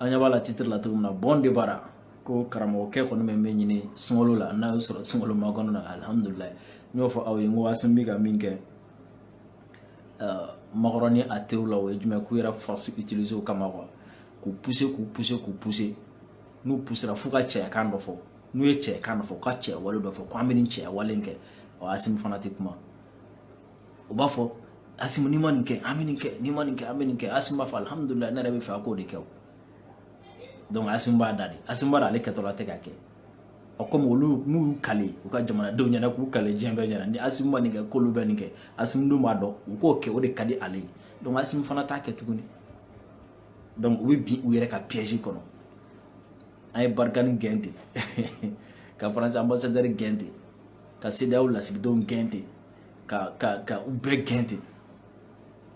an ɲɛ b'a la titre la cogo min na bon de bara ko karamɔgɔkɛ kɔni bɛ min ɲini sunkalo la n'a y'o sɔrɔ sunkalo makɔnɔ na alihamudulilayi n y'o fɔ aw ye n ko asimi bɛ ka min kɛ makɔrɔn ni a teriw la o ye jumɛn k'u yɛrɛ force utiliser u kama quoi k'u pousser k'u pousser k'u pousser n'u poussera f'u ka cɛyakan dɔ fɔ n'u ye cɛyakan dɔ fɔ u ka cɛyawale dɔ fɔ ko an bɛ nin cɛyawale in kɛ o asimi fana tɛ kuma u b'a fɔ asimi n'i ma nin kɛ an bɛ nin kɛ n'i ma nin kɛ an bɛ nin kɛ asimi b'a fɔ alihamudulilayi ne yɛrɛ bɛ fɛ a k'o de kɛ o donc asimi b'a da de asimi b'a da ale kɛtɔla tɛ k'a kɛ ɔ komi olu n'u y'u kale u ka jamanadenw ɲɛna k'u kale diɲɛ bɛɛ ɲɛna ni asimi ma nin kɛ k'olu bɛ nin kɛ asimi dun b'a dɔn u k'o kɛ o de ka di ale ye donc asimi fana t'a kɛ tuguni donc u bɛ bin u yɛrɛ ka piège kɔnɔ an ye barikani gɛn ten ka faransi ambassadeur gɛn ten ka cedeao lasigidenw gɛn ten ka ka ka u bɛɛ gɛn ten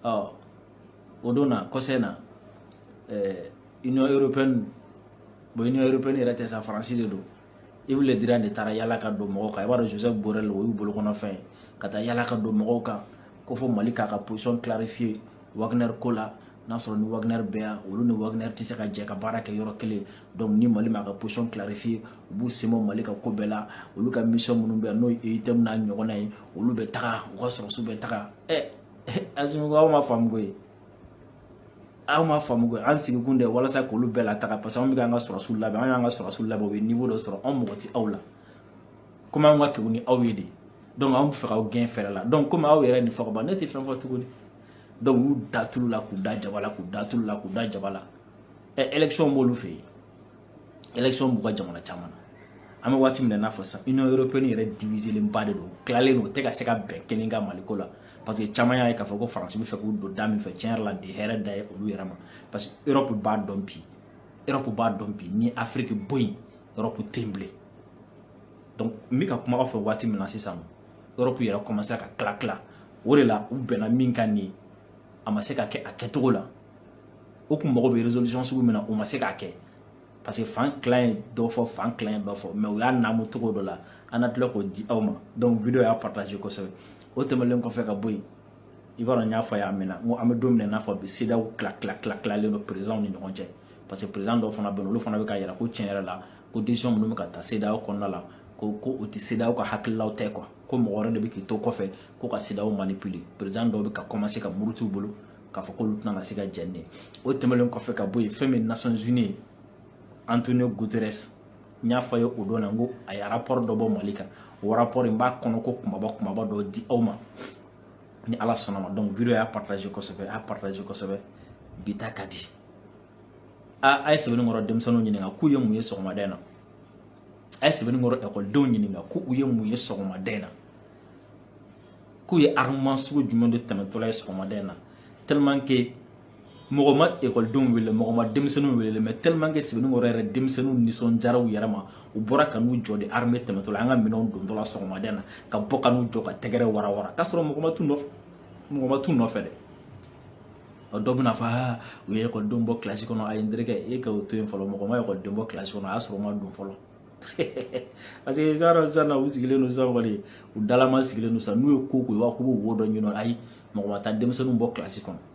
ɔ o don na concernant ɛɛ union européenne bon union européenne yɛrɛ tɛ sa faransi de don yves le drian de taara yala ka don mɔgɔw kan i b'a dɔn joseph borrell o y'u bolokɔnɔfɛn ye ka taa yala ka don mɔgɔw kan ko fo mali k'a ka position clarifier wagner ko la n'a sɔrɔ ni wagner bɛ yan olu ni wagner tɛ se ka jɛ ka baara kɛ yɔrɔ kelen donc ni mali m'a ka position clarifier u b'u sen bɔ mali ka ko bɛɛ la olu ka mission minnu bɛ yan n'o ye eutm n'a ɲɔgɔnna ye olu bɛ taga u ka sɔrɔsiw bɛ taga ɛ asimi ko aw m'a faamu koyi aw m'a faamu koyi an sigikun de walasa k'olu bɛɛ lataga parce que anw bɛ k'an ka sɔrɔsiw labɛn an y'an ka sɔrɔsiw labɛn u ye niveau dɔ sɔrɔ anw mago tɛ aw la komi anw ka kewu ni aw ye de donc anw bɛ fɛ k'aw gɛn fɛɛrɛ la donc komi aw yɛrɛ nin fɔ ka ban ne tɛ fɛn fɔ tuguni donc u y'u da tulu la k'u da jaba la k'u da tulu la k'u da jaba la ɛ eh, élection b'olu fɛ yen élection b'u ka jamana caman na an bɛ waati min na i n'a fɔ sisan union européenne yɛrɛ diviselenba de don tilalen don u tɛ ka se ka bɛn kelen kan mali ko la parce que caman y'a ye k'a fɔ ko faransi bɛ fɛ k'u don da min fɛ tiɲɛ yɛrɛ la a tɛ hɛrɛ da ye olu yɛrɛ ma parce que europe b'a dɔn bi Europe b'a dɔn bi ni Afrique bɔ yen Europe tɛ yen bilen donc n bɛ ka kuma aw fɛ waati min na sisan Europe yɛrɛ commencé ka tila tila o de la u bɛnna min kan nin a ma se ka kɛ a kɛcogo la u kun mago bɛ résolution sugu min na u ma se k'a kɛ parce que fan tilan ye dɔ fɔ fan tilan ye dɔ fɔ mais u y'a naamu cogo dɔ la an na tila k'o di aw ma donc vidéo y'a partager kosɛbɛ o tɛmɛnlen kɔfɛ ka bɔ yen i b'a dɔn n y'a fɔ yan a mɛnna n ko an bɛ don min na i n'a fɔ bi cedeao tila tila tila tilalen don présidentw ni ɲɔgɔn cɛ parce que président dɔw fana bɛ yen olu fana bɛ k'a yira ko tiɲɛ yɛrɛ la ko décision minnu bɛ ka ta cedeao kɔnɔna la ko ko u tɛ cedeao ka hakililaw tɛ quoi ko mɔgɔ wɛrɛ de bɛ k'i to kɔfɛ ko ka cedeao manipuler président dɔw bɛ ka commencer ka muruti u bolo k'a fɔ k'olu tɛna se ka jɛn n'a ye o tɛmɛnen kɔfɛ ka bɔ yen fɛn min nations unies antonio guterres n y'a fɔ aw ye o don na n ko a ye rapport dɔ bɔ mali kan o rapport in n b'a kɔnɔko kunbaba kunbaba dɔ di aw ma ni ala sɔnna ma donc vidéo y'a partager kosɛbɛ a y'a partager kosɛbɛ bi ta ka di a a ye sebeninkɔrɔ denmisɛnninw ɲininka k'u ye mun ye sɔgɔmada in na a ye sebeninkɔrɔ ekɔlidenw ɲininka ko u ye mun ye sɔgɔmada in na k'u ye armement sugu jumɛn de tɛmɛtɔla ye sɔgɔmada in na tellement que mɔgɔ ma ekɔlidenw wele mɔgɔ ma denmisɛnninw wele mais tellement que sebeninkɔrɔ yɛrɛ denmisɛnninw nisɔndiyara u yɛrɛ ma u bɔra ka n'u jɔ de armée tɛmɛtɔla an ka minɛnw dontɔla sɔgɔmada in na ka bɔ ka n'u jɔ ka tɛgɛrɛ warawara k'a sɔrɔ mɔgɔ ma t'u nɔfɛ mɔgɔ ma t'u nɔfɛ dɛ dɔ bɛna fɔ aa u ye ekɔlidenw bɔ kilasi kɔnɔ ayi n terikɛ e ka o to yen fɔlɔ mɔgɔ ma ekɔliden bɔ kilasi kɔnɔ a y'a sɔrɔ u ma don fɔlɔ parce que t'a dɔn sisan na u sigilen don sisan kɔni u dalama sigilen don sisan n'u ye ko ko i b'a fɔ k'u b'u wo dɔ ɲini ayi mɔgɔ ma taa denmisɛnninw bɔ kilasi kɔnɔ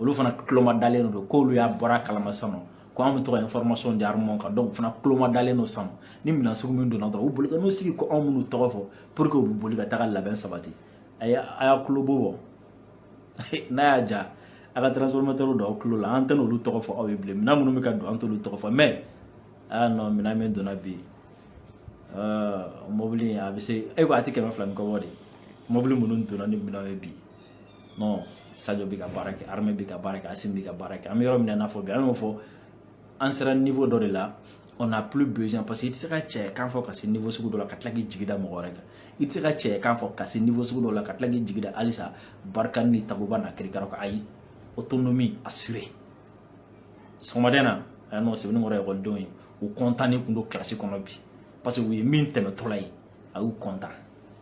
olu fana tuloma dalen don k'olu y'a bɔra kalama sisan ko an bɛ to ka information di armement kan donc fana tuloma dalen don sisan ni minɛn sugu min donna dɔrɔn u boli ka n'u sigi ko anw minnu tɔgɔ fɔ pour que u bɛ boli ka taga labɛn sabati a y'a a y'a tulo bɔ n'a y'a ja a ka transformateur don aw tulo la an tɛ n'olu tɔgɔ fɔ aw ye bilen minɛn minnu bɛ ka don an t'olu tɔgɔ fɔ mais aa non minɛn min donna bi mobili a bɛ se e ko a tɛ kɛmɛ fila ni kɔ bɔ de mobili minnu donna ni minɛn ye bi non sajo bɛ ka baara kɛ armée bɛ ka baara kɛ asimi bɛ ka baara kɛ an bɛ yɔrɔ min na i n'a fɔ bi an y'o fɔ an sera niveau dɔ de la on n'a plus besoin parce que i tɛ se ka cɛ kan fɔ ka se niveau sugu dɔ la ka tila k'i jigi da mɔgɔ wɛrɛ kan i tɛ se ka cɛ kan fɔ ka se niveau sugu dɔ la ka tila k'i jigi da halisa barkhane ni takuba n'a kirikara kan ayi autonomie assurée sɔgɔmada in na a y'a nɔ sebeninkɔrɔ ekɔlidenw ye u kɔntannen tun don kilasi kɔnɔ bi parce que u ye min tɛmɛtɔla ye a y'u kɔntan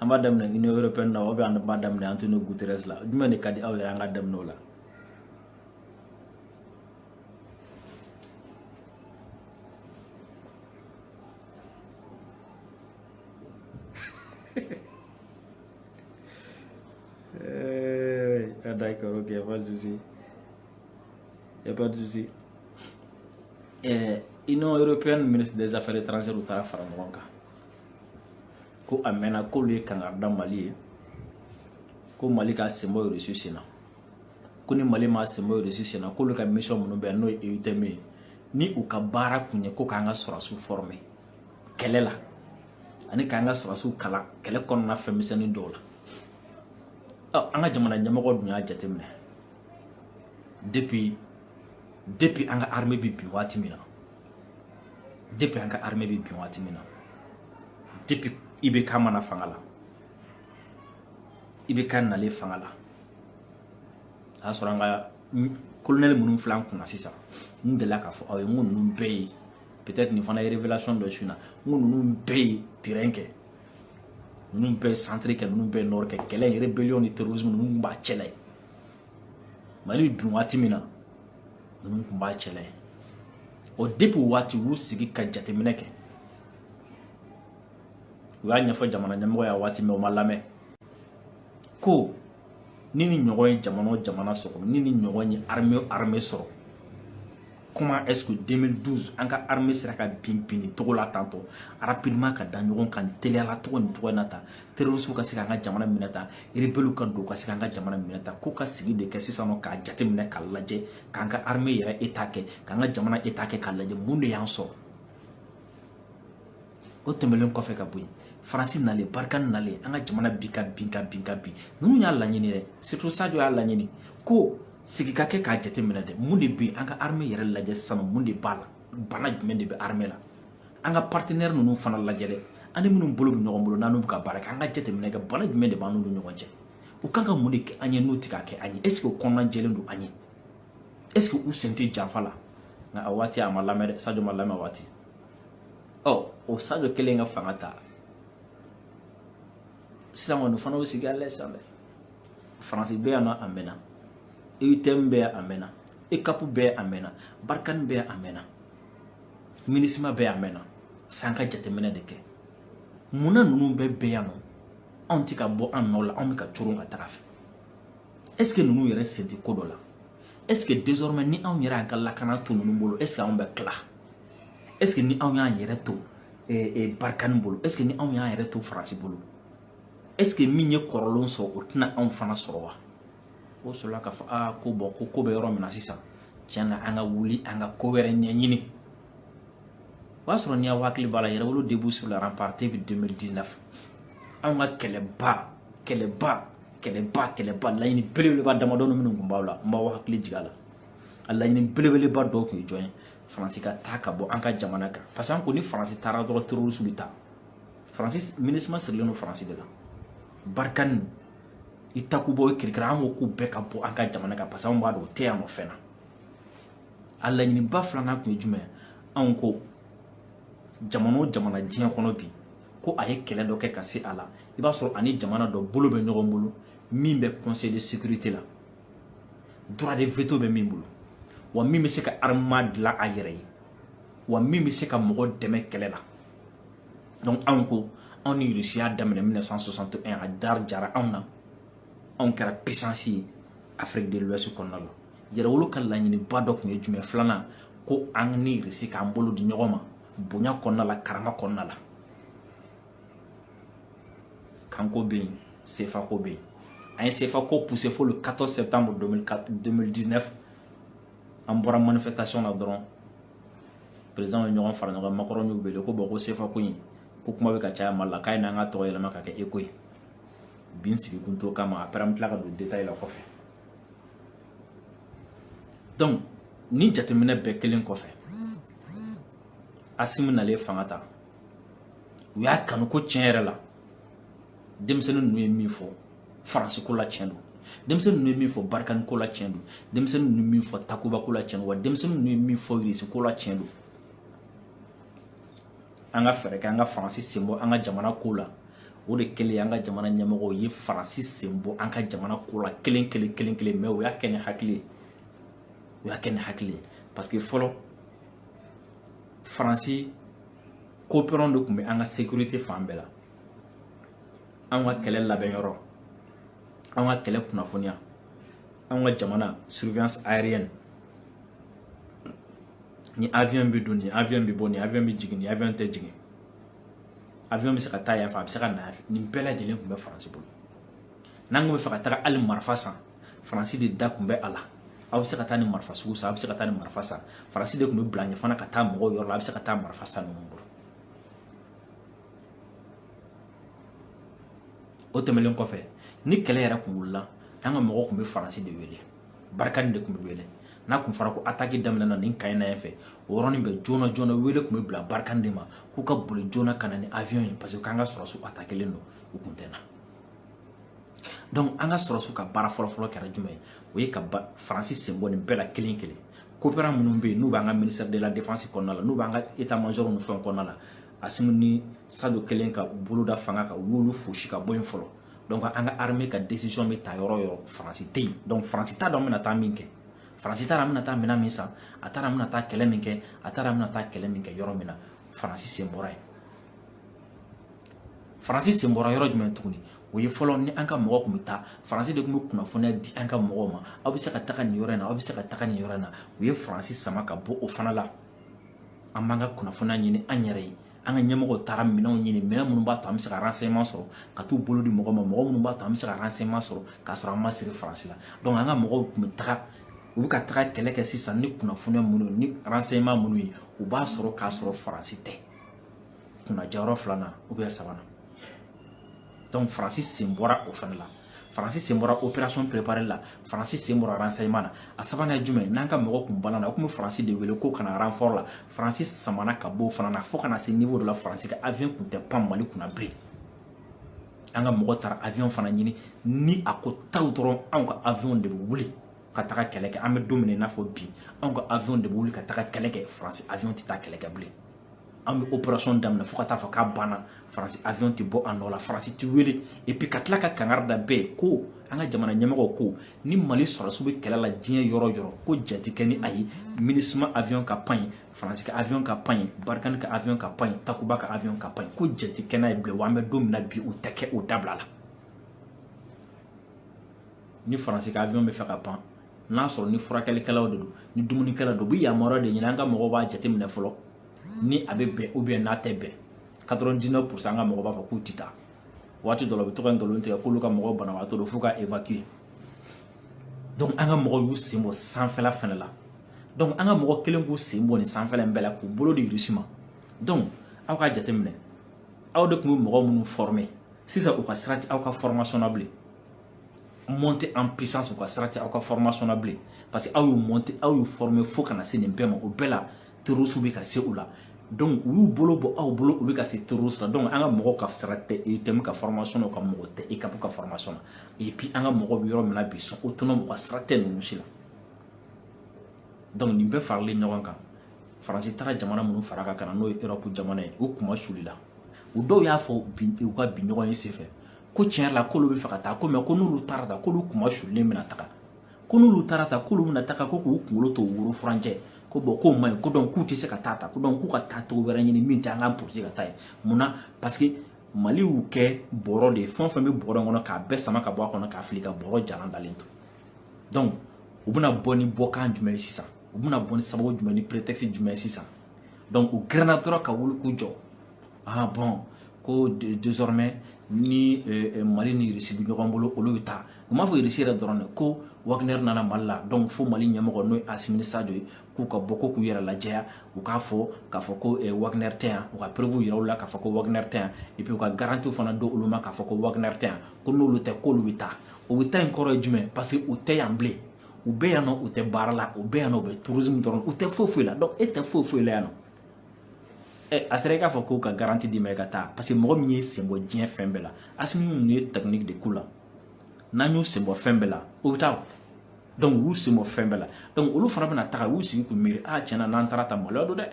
an b'a daminɛ Union européenne na ou bien an b'a daminɛ Antonio Guterres la jumɛn de ka di aw yɛrɛ an ka daminɛ o la d'accord, ok, pas de souci. Il y a pas de souci. L'Union eh, européenne, ministre des Affaires étrangères, u taara fara ɲɔgɔn kan. ko a mɛnna k'olu ye kangari da mali ye ko mali k'a sen bɔ irisi sen na ko ni mali m'a sen bɔ irisi sen na k'olu ka mission minnu bɛ yan n'o ye EUTM ye ni u ka baara kun ye ko k'an ka sɔrɔsiw fɔrɔme kɛlɛ la ani k'an ka sɔrɔsiw kalan kɛlɛ kɔnɔna fɛnmisɛnnin dɔw la an ka jamana ɲɛmɔgɔ dun y'a jateminɛ depuis depuis an ka armée bɛ bi waati min na depuis an ka armée bɛ bin waati min na depuis ibk ma na fanga la ibk nalen fanga la a y'a sɔrɔ an ka kolonɛli minnu filɛ an kunna sisan n delila k'a fɔ aw ye n ko ninnu bɛɛ ye peut-être nin fana ye révélation dɔ su in na n ko ninnu bɛɛ ye terrain kɛ ninnu bɛɛ ye centre kɛ ninnu bɛɛ ye nord kɛ kɛlɛ in rébellion ni terrorisme ninnu b'a cɛla ye mali bɛ bin waati min na ninnu tun b'a cɛla ye o depuis o waati u y'u sigi ka jateminɛ kɛ u y'a ɲɛfɔ jamana ɲɛmɔgɔ y'a waati mais o ma lamɛn ko ni nin ɲɔgɔn ye jamana o jamana sɔrɔ ni nin ɲɔgɔn ye armée armée sɔrɔ comment est-ce que 2012 an ka armée sera ka bin bin nin cogo la tantɔ rapidement ka da ɲɔgɔn kan nin teliya la cogo nin cogo in na tan terroristes ka se k'an ka jamana minɛ tan rebelles ka don ka se k'an ka jamana minɛ tan ko ka sigi de kɛ sisan nɔ k'a jateminɛ k'a lajɛ k'an ka armée yɛrɛ état kɛ k'an ka jamana état kɛ k'a lajɛ mun de y'an sɔrɔ o tɛmɛlen kɔfɛ ka bɔ yen faransi nalen barikani nalen an ka jamana bɛ ka bin ka bin ka bin ninnu y'a laɲini dɛ surtout sajo y'a laɲini ko sigi ka kɛ k'a jateminɛ dɛ mun de bɛ an ka armée yɛrɛ lajɛ sisan mun de b'a la bana jumɛn de bɛ armée la an ka partenaire ninnu fana lajɛ dɛ an ni minnu bolo bɛ ɲɔgɔn bolo n'an bɛ ka baara kɛ an ka jateminɛ kɛ bana jumɛn de b'an n'u ni ɲɔgɔn cɛ u kan ka mun de kɛ an ye n'u tɛ k'a kɛ an ye est ce que u kɔnɔna jɛlen don an ye est ce que u sen tɛ janfa la nka a waati a ma lamɛn dɛ sajo ma lamɛn a waati ɔ o sajo kelen ka fanga ta sisan kɔni fana bɛ sigi a lajɛ sisan dɛ faransi bɛ yan nɔ a mɛnna eutm bɛ yan a mɛnna eucap bɛ yan a mɛnna barikani bɛ yan a mɛnna minisima bɛ yan a mɛnna sa an ka jateminɛ de kɛ munna ninnu bɛɛ bɛ yan nɔ anw tɛ ka bɔ an nɔ la anw bɛ ka coron ka taga a fɛ est ce que ninnu yɛrɛ sen tɛ ko dɔ la est ce que désormais ni anw yɛrɛ y'an ka lakana to ninnu bolo est ce que anw bɛ tila est ce que ni anw y'an yɛrɛ to eh, eh, barikani bolo est ce que ni anw y'an yɛrɛ to faransi bolo est ce que min ye kɔrɔlenw sɔrɔ o tɛna anw fana sɔrɔ wa o sɔrɔla k'a fɔ aa ko bon ko ko bɛ yɔrɔ min na sisan tiɲɛ na an ka wuli an ka ko wɛrɛ ɲɛɲini o y'a sɔrɔ ni aw hakili b'a la yɛrɛwolo debout sur les remparts depuis 2019 anw ka kɛlɛba kɛlɛba kɛlɛba kɛlɛba laɲini belebeleba damadɔnin minnu tun b'aw la n b'aw hakili jigin a la a laɲini belebeleba dɔw tun ye jɔn ye faransi ka taa ka bɔ an ka jamana kan parce que an ko ni faransi taara dɔrɔn terorisiw bɛ taa faransi minisima sirilen don faransi de la barikani i takuba i kirikira an ko k'u bɛɛ ka bɔ an ka jamana kan parce que anw b'a dɔn o tɛ yan nɔ fɛn na a laɲiniba filanan tun ye jumɛn anw ko jamana o jamana diɲɛ kɔnɔ bi ko a ye kɛlɛ dɔ kɛ ka se a la i b'a sɔrɔ a ni jamana dɔ bolo bɛ ɲɔgɔn bolo min bɛ conseil de sécurité la droit de veto bɛ min bolo wa min bɛ se ka armement dilan a yɛrɛ ye wa min bɛ se ka mɔgɔ dɛmɛ kɛlɛ la donc anw ko anw ni irisi y'a daminɛ 1961 a diyara anw na anw kɛra puissance ye afrique de l'ouest kɔnɔna la yɛrɛwolo ka laɲiniba dɔ tun ye jumɛn filanan ko an ni irisi k'an bolo di ɲɔgɔn ma bonya kɔnɔna la karama kɔnɔna la kanko bɛ yen sefako bɛ yen an ye sefako poussé fo le 14 septembre 2019 an bɔra manifestation na dɔrɔn peresidanw ye ɲɔgɔn fara ɲɔgɔn makɔrɔn y'u wele ko bon ko sefa ko in ko kuma bɛ ka caya mali la k'a ye na an k'a tɔgɔ yɛlɛma k'a kɛ eko ye bi sigi kun t'o kama après an bɛ tila ka don détail la kɔfɛ donc ni jateminɛ bɛɛ kɛlen kɔfɛ asimi nalen fanga ta u y'a kanu ko tiɲɛ yɛrɛ la denmisɛnnin ninnu ye min fɔ faransi ko la tiɲɛ don denmisɛnnin ninnu ye min fɔ barikani ko la tiɲɛ don denmisɛnnin ninnu ye min fɔ takuba ko la tiɲɛ don wa denmisɛnnin ninnu ye min fɔ irisi ko la tiɲɛ don an ka fɛɛrɛ kɛ an ka faransi sen bɔ an ka jamana ko la o de kɛlen an ka jamana ɲɛmɔgɔw ye faransi sen bɔ an ka jamana ko la kelen kelen kelen kelen mais o y'a kɛ ni hakili ye o y'a kɛ ni hakili ye parce que fɔlɔ faransi coopérant de tun bɛ an ka sekirite fan bɛɛ la anw ka kɛlɛ labɛn yɔrɔ anw ka kɛlɛ kunnafoniya anw ka jamana surveillance aérienne ni avion bɛ don ni avion bɛ bɔ ni avion bɛ jigin ni avion tɛ jigin avion bɛ se ka taa yan fɛ a bɛ se ka na yan fɛ nin bɛɛ lajɛlen tun bɛ faransi bolo n'an kun b'a fɛ ka taga hali marifa san faransi de da tun bɛ a la aw bɛ se ka taa nin marifa sugu san aw bɛ se ka taa nin marifa san faransi de tun bɛ bila ɲɛ fana ka taa mɔgɔw yɔrɔ la a bɛ se ka taa marifa san ninnu bolo o tɛmɛlen kɔfɛ ni kɛlɛ yɛrɛ kun wulila an ka mɔgɔw tun bɛ faransi de wele barikani de tun bɛ wele n'a kun fɔra ko ataki daminɛna nin kan in na yan fɛ o yɔrɔnin bɛɛ joona joona wele tun bɛ bila barikani de ma k'u ka boli joona ka na ni avion ye parce que k'an ka sɔrɔdasiw atakilen don u kun tɛ na donc an ka sɔrɔdasiw ka baara fɔlɔfɔlɔ kɛra jumɛn ye o ye ka faransi sen bɔ nin bɛɛ la kelen kelen coopérant minnu bɛ yen n'u b'an ka ministère de la défense kɔnɔna la n'u b'an ka état major ni fɛnw kɔnɔna la asimi ni sadio kɛlen ka bolo da fanga kan u y'olu fosi ka bɔ yen fɔlɔ donc an ka armée ka décision bɛ ta yɔrɔ yɔrɔ faransi tɛ yen donc faransi t'a dɔn an bɛna taa min kɛ faransi t'a dɔn an bɛna taa minɛn min san a t'a dɔn an bɛna taa kɛlɛ min kɛ a t'a dɔn an bɛna taa kɛlɛ min kɛ yɔrɔ min na faransi sen bɔra yen faransi sen bɔra yɔrɔ jumɛn tuguni o ye fɔlɔ ni an ka mɔgɔ tun bɛ taa faransi de tun bɛ kunnafoniya di an ka mɔgɔw ma aw bɛ se ka taga nin yɔrɔ in na aw bɛ se ka taga nin yɔrɔ in na u ye faransi sama ka bɔ o fana la an b'an ka kunnafoniya ɲini an yɛrɛ ye an ka ɲɛmɔgɔw taara minɛnw ɲini minɛn minnu b'a to an bɛ se ka renseignement sɔrɔ ka t'u bolo di mɔgɔ ma mɔgɔ minnu b'a to an bɛ se ka renseignement sɔrɔ k'a sɔrɔ an ma siri faransi la donc an ka mɔgɔw tun bɛ taga u bɛ ka taga kɛlɛ kɛ sisan ni kunnafoniya minnu ni renseignement minnu ye u b'a sɔrɔ k'a sɔrɔ faransi tɛ kunnajayɔrɔ filanan sabanan donc faransi sen bɔra o fana la faransi sen bɔra opération préparée la faransi sen bɔra renseignement na a sabanan ye jumɛn n'an ka mɔgɔ kun balanna u tun bɛ faransi de wele ko ka na renfort la faransi samana ka b'o fana na fo ka na se niveau dɔ la faransi ka avion kun tɛ pan mali kunna bilen an ka mɔgɔ taara avion fana ɲini ni a ko taw dɔrɔn anw ka avion de bɛ wuli ka taga kɛlɛ kɛ an bɛ don min na i n'a fɔ bi anw ka avion de bɛ wuli ka taga kɛlɛ kɛ faransi avion tɛ taa kɛlɛ kɛ bilen an bɛ opération daminɛ fo ka taa fɔ k'a banna faransi avion tɛ bɔ a nɔ la faransi tɛ wele et puis ka tila ka kangari da bɛɛ ko an ka jamana ɲɛmɔgɔw ko ni mali sɔrɔdasiw bɛ kɛlɛ la diɲɛ yɔrɔ yɔrɔ ko jati kɛ ni a ye minusma avion ka pan ye faransi ka avion ka pan ye barikani ka avion ka pan ye takuba ka avion ka pan ye ko jati kɛ n'a ye bilen wa an bɛ don min na bi o tɛ kɛ o dabila la ni faransi ka avion bɛ fɛ ka pan n'a sɔrɔ ni furakɛlikɛlaw de don ni dumunikɛla don u bɛ yamaruya de ɲini an ka mɔgɔw b'a jateminɛ fɔlɔ ni a bɛ bɛn ou bien n'a tɛ bɛn 99 pourcent an ka mɔgɔ b'a fɔ k'u tɛ taa waati dɔ la u bɛ to ka nkalon tigɛ k'olu ka mɔgɔw banabagatɔ don f'u k'a évacuer donc an ka mɔgɔw y'u sen bɔ sanfɛla fana la donc an ka mɔgɔ kɛlen k'u sen bɔ nin sanfɛla in bɛɛ la k'u bolo di irisi ma donc aw k'a jateminɛ aw de tun bɛ mɔgɔ minnu former sisan u ka sira tɛ aw ka formation na bilen montée en puissance u ka sira tɛ aw ka formation na bilen parce que aw y'u monter aw y'u former fo ka na se nin bɛɛ ma o bɛɛ la terroriste bɛ ka se u la donc u y'u bolo bɔ aw bolo u bɛ ka se terroriste la donc an ka mɔgɔw ka sira tɛ eutm ka formation na ka mɔgɔ tɛ eucap ka formation na et puis an ka mɔgɔw bɛ yɔrɔ min na bi sont autonomes u ka sira tɛ ninnu si la donc nin bɛɛ faralen ɲɔgɔn kan faransi taara jamana minnu fara a kan ka na n'o ye europe jamana ye u kunmasulila u dɔw y'a fɔ u ka bi ɲɔgɔnye senfɛ ko tiɲɛ la k'olu bɛ fɛ ka taa ko mais ko n'olu taara tan k'olu kunmasulilen bɛna taga ko n'olu taara tan k'olu bɛna taga ko k'u kunkolo to woro furancɛ ko bon k'o man ɲi ko donc k'u tɛ se ka taa tan ko donc k'u ka taa cogo wɛrɛ ɲini min tɛ an ka polisi ka taa ye mun na parce que mali y'u kɛ bɔrɔ de ye fɛn o fɛn bɛ bɔrɔ kɔnɔ k'a bɛɛ sama ka bɔ a kɔnɔ k'a fili ka bɔrɔ jalan dalen to donc u bɛna bɔ ni bɔkan jumɛn ye sisan u bɛna bɔ ni sababu jumɛn ni prétexte jumɛn ye sisan donc u girinna dɔrɔn ka wuli k'u jɔ ah bon ko désormais ni euh, euh, mali ni irisi bɛ ɲɔgɔn bolo olu bɛ taa u m'a fɔ irisi yɛrɛ dɔrɔn dɛ ko wagner nana mali la donc fo mali ɲɛmɔgɔ n'o ye asimi ni sajo ye k'u ka bɔ ko k'u yɛrɛ lajɛya u k'a fɔ k'a fɔ ko euh, wagner tɛ yan u ka preuve yira u la k'a fɔ ko wagner tɛ yan et puis u ka garantiw fana d'olu ma k'a fɔ ko wagner tɛ yan ko n'olu tɛ k'olu bɛ taa o bɛ taa in kɔrɔ ye jumɛn parce que u tɛ yan bilen u bɛ yan nɔ u tɛ baara la u bɛ yan nɔ u bɛ tourisme dɔrɔn u tɛ foyi foyi la donc e tɛ foyi foyi la yan nɔ ɛ a sera i k'a fɔ ko ka garanti d'i ma i ka taa parce que mɔgɔ min y'i senbɔ diɲɛ fɛn bɛɛ la asimi ninnu ye technique de k'u la n'an y'u senbɔ fɛn bɛɛ la u bɛ taa donc u y'u senbɔ fɛn bɛɛ la donc olu fana bɛna taga u y'u sigi k'u miiri a tiɲɛ na n'an taara tan maloya don dɛ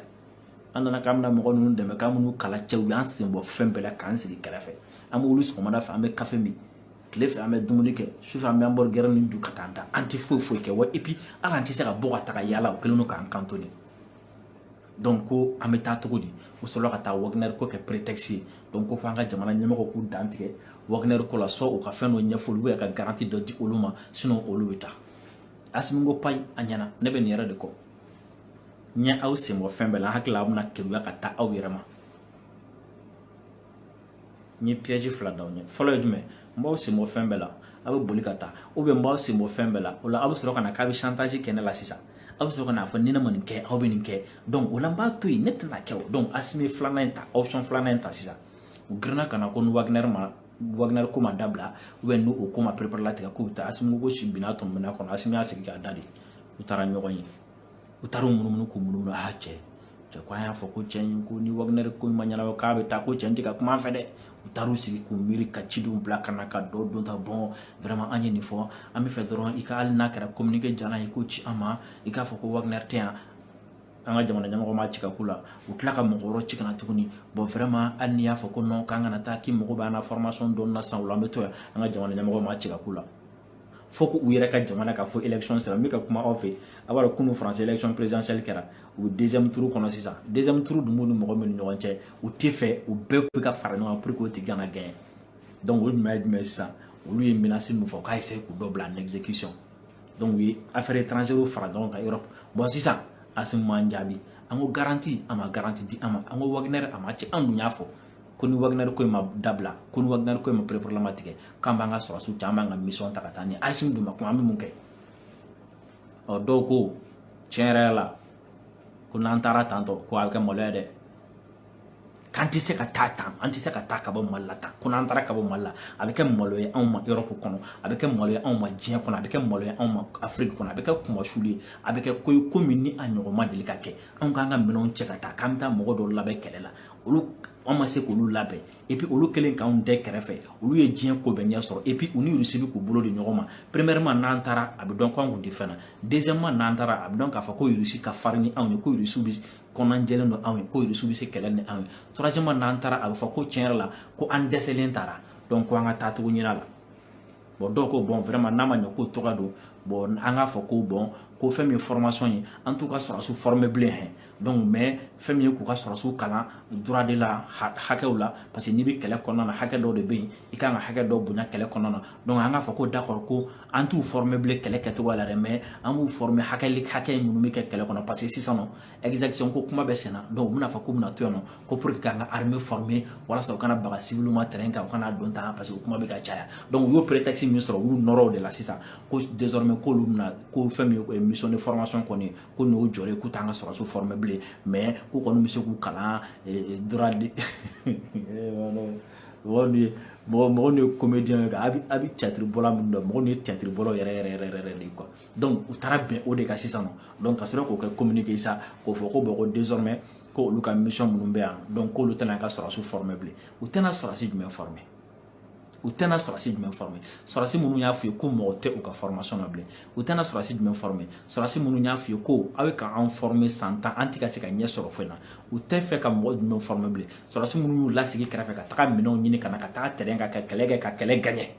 an nana k'an bɛna mɔgɔ ninnu dɛmɛ k'an bɛn'u kalan cɛ u y'an senbɔ fɛn bɛɛ la k'an sigi kɛrɛfɛ an bɛ wuli sɔgɔmada fɛ an bɛ kafe min tile fɛ an bɛ dumuni kɛ sufɛ an bɛ hamburger nin dun ka taa an da an tɛ foyi foyi kɛ wa et puis hali an tɛ se ka bɔ ka taga yaala u kɛlen don k'an cantonner donc ko an bɛ taa cogo di u sɔrɔla ka taa wagner ko kɛ prétexte ye donc ko fo an ka jamana ɲɛmɔgɔ k'u dan tigɛ wagner ko la soit u ka fɛn dɔ ɲɛfɔ olu ye ka garanti dɔ di olu ma sinon olu bɛ taa asimi ko payi a ɲɛna ne bɛ nin yɛrɛ de kɔ n ye aw senbɔ fɛn bɛɛ la n hakili la aw bɛna keguya ka taa aw yɛrɛ ma n ye piège fila d'aw ɲɛ fɔlɔ ye jumɛn n b'aw senbɔ fɛn bɛɛ la aw bɛ boli ka taa ou bien n b'aw senbɔ fɛn bɛɛ la o la aw bɛ sɔrɔ ka na k'aw bɛ chantage kɛ ne la sisan aw bɛ sɔrɔ ka n'a fɔ ni ne ma nin kɛ aw bɛ nin kɛ donc o la n b'a to yen ne tɛna kɛ o donc asimi filanan in ta option filanan in ta sisan u girinna ka na ko ni wagner ma wagner ko ma dabila ou bien ni o ko ma pereperelatigɛ k'u bɛ taa asimi ko si binna tɔmɔ minɛn kɔnɔ asimi y'a sigi k'a da de u taara ɲɔgɔn ye u taara u munumunu k'u munumunu a cɛ cɛ ko an y'a fɔ ko cɛ in ko ni wagner ko ma ɲɛnabɔ k'an bɛ taa ko cɛ in tɛ ka kuma an fɛ dɛ u taar'u sigi k'u miiri ka cidenw bila ka na ka dɔ don ta bon vraiment an ye nin fɔ an b'a fɛ dɔrɔn i ka hali n'a kɛra communiqué jalan ye k'o ci an ma i k'a fɔ ko wagner tɛ yan an ka jamana ɲɛmɔgɔ ma ci ka k'u la u tila ka mɔgɔ wɛrɛ ci ka na tuguni bon vraiment hali n'i y'a fɔ ko non k'an kana taa k'i mago b'an na formation dɔɔni na sisan o la an bɛ to yan an ka jamana ɲɛmɔgɔ ma ci ka k'u la fo ko u yɛrɛ ka jamana ka fɔ élection sera n bɛ ka kuma aw fɛ aw b'a dɔn kunu faransi election présidentielle kɛra u bɛ deuxième tour kɔnɔ sisan deuxième tour dun b'u ni mɔgɔ min ni ɲɔgɔn cɛ u t'o fɛ u bɛɛ bɛ ka fara ɲɔgɔn kan pour que o tigi kana gagner donc o jumɛn ye jumɛn ye sisan olu ye menace min fɔ k'a essayer k'u dɔ bila en exécution donc u ye affaire étrangère fara ɲɔgɔn kan Europe bon sisan Asimi m'an jaabi an ko garanti a ma garanti di an ma an ko Wagner a ma ci an dun y'a fɔ ko ni waginari ko in ma dabila ko ni waginari ko in ma pereperelatigɛ k'an b'an ka sɔrɔsiw ta an b'an ka mission ta ka taa ni asimi dun ma kuma an bɛ mun kɛ ɔ dɔw ko tiɲɛ yɛrɛ la ko n'an taara tantɔ ko a bɛ kɛ maloya dɛ k'an tɛ se ka taa tan an tɛ se ka taa ka bɔ mali la tan ko n'an taara ka bɔ mali la a bɛ kɛ malo ye anw ma erɔpu kɔnɔ a bɛ kɛ malo ye anw ma diɲɛ kɔnɔ a bɛ kɛ malo ye anw ma afiriki kɔnɔ a bɛ kɛ kunmasuli ye a bɛ kɛ ko ye ko min ni a ɲɔgɔn ma deli ka kɛ anw k'an ka minɛnw cɛ ka taa k'an bɛ taa mɔgɔ dɔw labɛn kɛlɛ la olu an ma se k'olu labɛn epi olu kɛlen k'anw dɛ kɛrɛfɛ olu ye diɲɛ ko bɛɛ ɲɛ sɔrɔ epi u ni rusi bɛ k'u bolo di ɲɔgɔn ma premièrement n'an taara a bɛ dɔn ko an kun tɛ fɛn na deuxièmement n'an taara a bɛ dɔn k'a fɔ ko rusi ka farin ni anw ye ko rusi bɛ kɔnɔna jɛlen don anw ye ko rusi bɛ se kɛlɛ ni anw ye troisièmement n'an taara a bɛ fɔ ko tiɲɛ yɛrɛ la ko an dɛsɛlen taara donc ko an ka taa cogo ɲin'a la bɔn dɔw ko bɔn vraiment n'a ma ɲɛ k'o tɔgɔ don bɔn an k'a fɔ ko bɔn ko fɛn min ye formation ye an t'u ka sɔrɔsiw former bilen hɛn donc mais fɛn min ye k'u ka sɔrɔsiw kalan droit de la hakɛw la parce que n'i bɛ kɛlɛ kɔnɔna na hakɛ dɔw de bɛ yen i kan ka hakɛ dɔw bonya kɛlɛ kɔnɔna na donc an k'a fɔ ko d'accord ko an t'u former bilen kɛlɛ kɛcogoya la dɛ mais an b'u former hakɛ hakɛ minnu bɛ kɛ kɛlɛ kɔnɔ parce que sisan nɔ exaction ko kuma bɛ senna donc u bɛna fɔ k'u bɛna to yan nɔ ko pour que k'an ka armée former walasa u kana baga civil ma terrain kan u kana don tan parce que kuma bɛ ka caya donc u y'o prétexte min sɔrɔ u y'u nɔrɔ o de la sisan ko désormais k'olu bɛna ko fɛn min ye mission de formation kɔni ko n'o jɔlen k'u t'an ka sɔrɔsiw former bilen mais k'u kɔni bɛ se k'u kalan droit de mɔgɔ nin ye mɔgɔ mɔgɔ nin ye comédien ye a bɛ a bɛ théâtre bɔla minnu dɔn mɔgɔ nin ye théâtre bɔlaw yɛrɛ yɛrɛ yɛrɛ yɛrɛ de ye quoi donc u taara bɛn o de kan sisan nɔ donc ka sɔrɔ k'o kɛ communiqué sa k'o fɔ ko bɔn ko désormais ko olu ka mission minnu bɛ yan donc k'olu tɛn'an ka sɔrɔsiw former bilen u tɛna sɔrɔsi jumɛn former u tɛna sɔrɔsi jumɛn former sɔrɔsi minnu y'a f'u ye ko mɔgɔ tɛ u ka formation na bilen u tɛna sɔrɔsi jumɛn former sɔrɔsi minnu y'a f'u ye ko aw bɛ ka anw former san tan an tɛ ka se ka ɲɛ sɔrɔ foyi na u tɛ fɛ ka mɔgɔ jumɛn former bilen sɔrɔsi minnu y'u lasigi kɛrɛfɛ ka taga minɛnw ɲini ka na ka taga terrain kan ka kɛlɛ kɛ ka kɛlɛ gagner